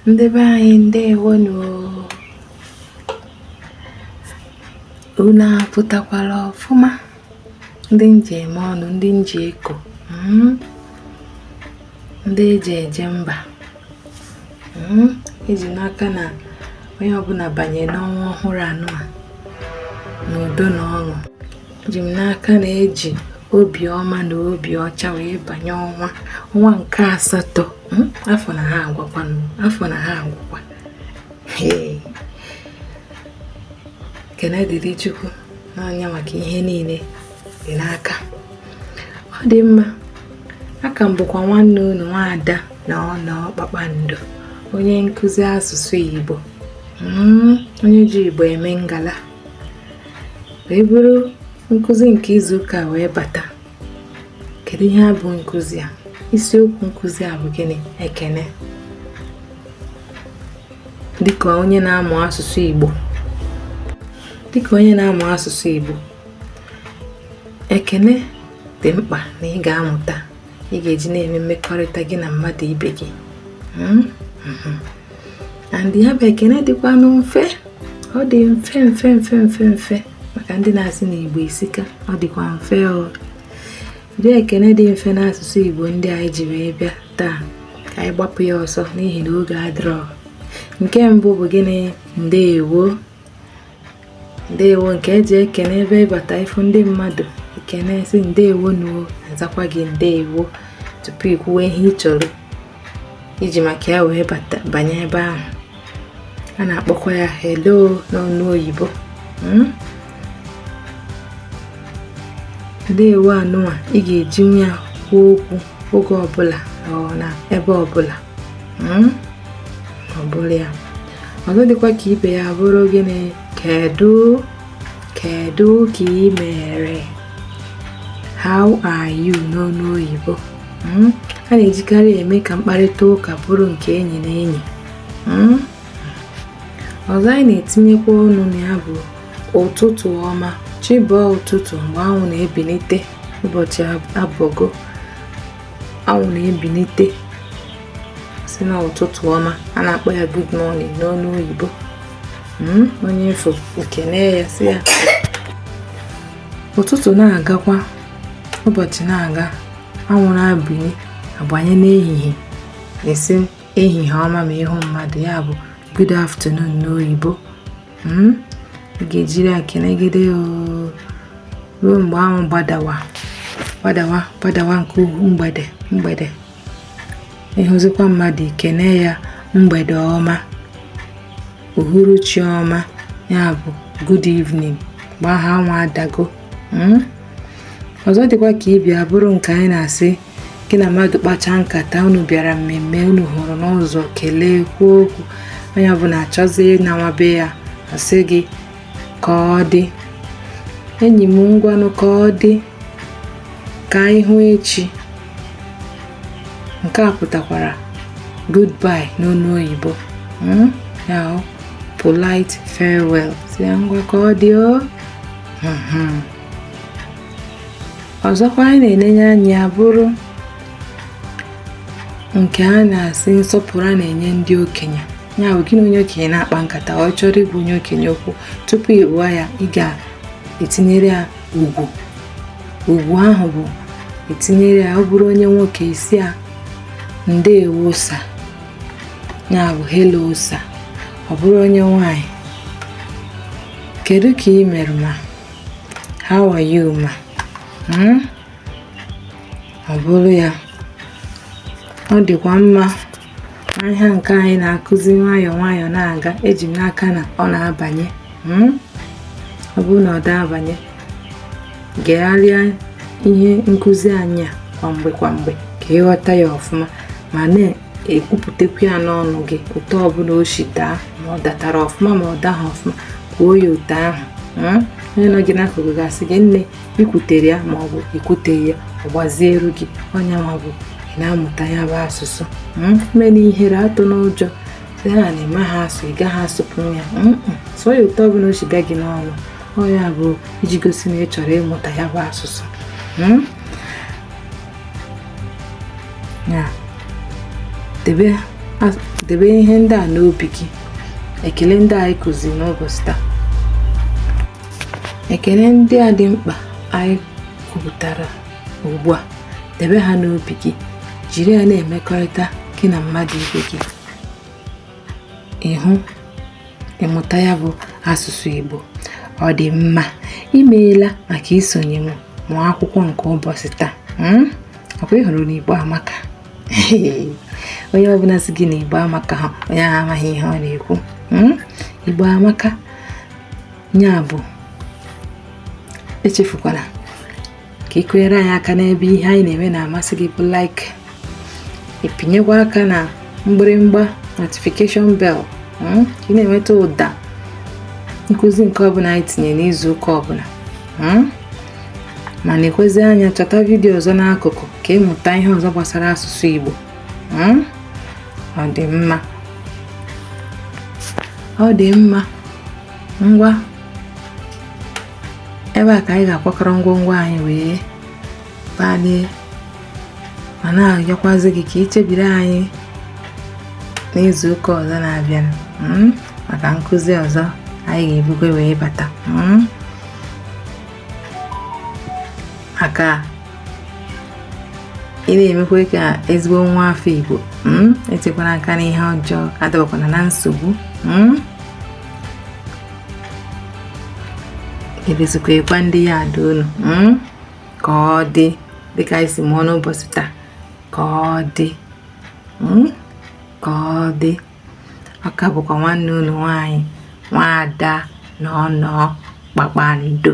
ndị be anyị ndewonu unu apụtakwala ọfụma ndị m ji eme ọnụ ndị m ji eko hmm? ndị eji eje mba hmm? eji m n'aka na onye ọbụla banye n'ọnwa ọhụrụ anụwa n'udo na ọṅụ eji m n'aka na eji obiọma na obi ọcha wee banye ọnwa ọnwa nke asatọ hmm? afọ na-aga agwụkwa afọ na-aga agwụkwa ekene dịrị chukwu nna anyị maka ihe niile dị n'aka ọ dị mma aka m bụkwa nwanne unu nwaada na ọ na kpakpando onye nkụzi asụsụ igbo hmm? onye ji igbo eme ngala wee buru nkụzi nke izu ụka wee bata kedu ihe bụ nkụzi a isiokwu nkụzi a bụ gịnị ekene dịka onye na-amụ asụsụ Igbo ekene dị mkpa na ị ga-amụta ị ga-eji na-eme mmekọrịta gị na mmadụ ibe gị hmm? Hmm. and ya bụ ekene dịkwanụ mfe ọ dị mfe mfe mfe mfe mfe maka ndị na-asị na igbo esika ọ dịkwa mfe ụdị ekene dị mfe n'asụsụ igbo ndị anyị ji wee bịa taa ka anyị gbapụ ya ọsọ n'ihi na oge adịrọ nke mbụ bụ gịnị ndeewo ndeewo nke eji ekene ebe ị bata ị fụ ndị mmadụ i kene sị ndeewo nụ o azakwa gị ndeewo tupu i kwuwe ihe ị chọrọ i ji maka ya wee bata banye ebe ahụ a na-akpọkwa ya hello n'ọnụ oyibo hmm? ndewo anụnwa ị ga-ejinwu ya kwuo okwu oge ọbụla na ebe ọbụla hmm? ọ bụrụ ya ọzọ dịkwa ka ibe ya bụrụ gịnị kedu kedu ka ị mere how are you n'ọnụ oyibo hmm? a na-ejikarị eme ka mkparịta ụka bụrụ nke enyi na enyi hmm? ọzọ anyị na-etinyekwa ọnụ na ya bụ ụtụtụ ọma chi bọọ ụtụtụ mgbe anwụ na-ebinite bụ chi abọgo anwụ na-ebinite sị na ụtụtụ ọma a na-akpọ ya good morning n'ọnụ oyibo hmm? onye ị fụ i kene ya sị ya ụtụtụ na-agakwa ụbọchị na-aga anwụ na-abanye abanye n'ehihie ị sị ehihie ọma ma ị hụ mmadụ ya bụ good afternoon n'oyibo hmm? ị ga-ejiri ya kenegide ruo mgbe anwụ gbadawa gbadawa gbadawa nke ugwu mgbede mgbede ị hụzikwa mmadụ i kene ya mgbede ọma uhuruchi ọma ya bụ good evening mgbe ahụ anwụ adago hmm? ọzọ dịkwa ka ibe ya bụrụ nke anyị na-asị gị na mmadụ kpachaa nkata unu bịara mmemme unu hụrụ n'ụzọ kelee kwuo okwu onye ọbụla achọzie ịnawa be ya a sị gị ka ọ dị enyi m ngwanụ ka ọ dị ka anyị hụ echi nke a pụtakwara goodbye n'onu oyibo hmm? ya polite farewell sị ya ngwa ka ọ dị o hmm, hmm. ọzọkwa anyị na-enenye anya bụrụ nke a na-asị nsọpụrụ a na-enye ndị okenye ya bụ gị na onye okenye na-akpa nkata ọ chọrọ ịgwa onye okenye okwu tupu ị gwa ya ị ga-etinyere ya ugwu ugwu ahụ bụ etinyere ya ọ bụrụ onye nwoke ị sị ya ndewo sir ya bụ hello sir ọ bụrụ onye nwanyị kedu ka ị mere ma how are you ma hmm? ọ bụrụ ya ọ dịkwa mma ihe nke anyị na-akụzi nwayọọ nwayọọ na-aga eji m n'aka na ọ na-abanye hmm? ọ bụrụ na ọ da-abanye gegharịa ihe nkụzi anyị a kwa mgbe kwa mgbe ka ị ghọta ya ọfụma ma na-ekwupụtakwu ya n'ọnụ gị otu ọbụla o si daa ma ọ datara ọfụma ma ọ daghị ọfụma kwuo ya otu ahụ hmm? onye nọ gị n'akụkụ ga-asị gị nne i kwutere ya ma ọ bụ i kwuteghị ya ọ gbazieru gị ọ ya nwa bụ ị na-amụta ya bụ asụsụ hmm? emena ihere atụna ụjọ sị ha na ị maha asụ ị gaghị asụpụ ya hmm? sụọ ya otu ọbụla o si bịa gị n'ọnụ ọ ya bụ iji gosi na ị chọrọ ịmụta ya bụ asụsụ hmm? ya debe debe ihe ndị a n'obi gị ekele ndị anyị kụziri n'ụbọchị taa Ekele ndị a dị mkpa anyị kwupụtara ugbu a, debe ha n'obi gị, jiri ya na-emekọrịta gị na mmadụ ibe gị. Ị hụ ị mụta ya bụ asụsụ Igbo ọ dị mma. I meela maka isonye m mụọ akwụkwọ nke ụbọchị taa. um Ọkwa ị hụrụ na Igbo amaka? onye ọbụla sị gị na igbo amaka ha onye ahụ amaghị ihe ọ na-ekwu hmm? igbo amaka ya bụ echefukwala ka ị kụnyere anyị aka n'ebe ihe anyị na-eme na-amasị gị bụ like ị pịnyekwa aka na mgbịrịmgba notification bell hmm? ka ị na-enweta ụda nkụzi nke ọbụla anyị tinye n'izu ụka ọbụla hmm? ma na-ekwezi anya chọta vidiyo ọzọ n'akụkụ ka ị mụta ihe ọzọ gbasara asụsụ Igbo hmm? ọ dị mma ọ dị mma ngwa ebe a ka anyị ga-akwakọrọ ngwongwo anyị wee balie ma na-arịọkwazi gị ka i chebiri anyị n'izu ụka ọzọ na-abịa hmm? maka nkụzi ọzọ anyị ga-ebukwe wee bata hmm? aka ị na-emekwa ka ezigbo nwa afọ Igbo hmm? etekwana aka n'ihe ọjọọ adabakwana na nsogbu hmm? ebezikwa ịgwa ndị ya ada unu hmm? ka ọ dị dịka anyị si mụọ n'ụbọchị taa ka ọ dị ka ọ dị ọ ka bụkwa nwanne unu nwaanyị nwaada Noono kpakpando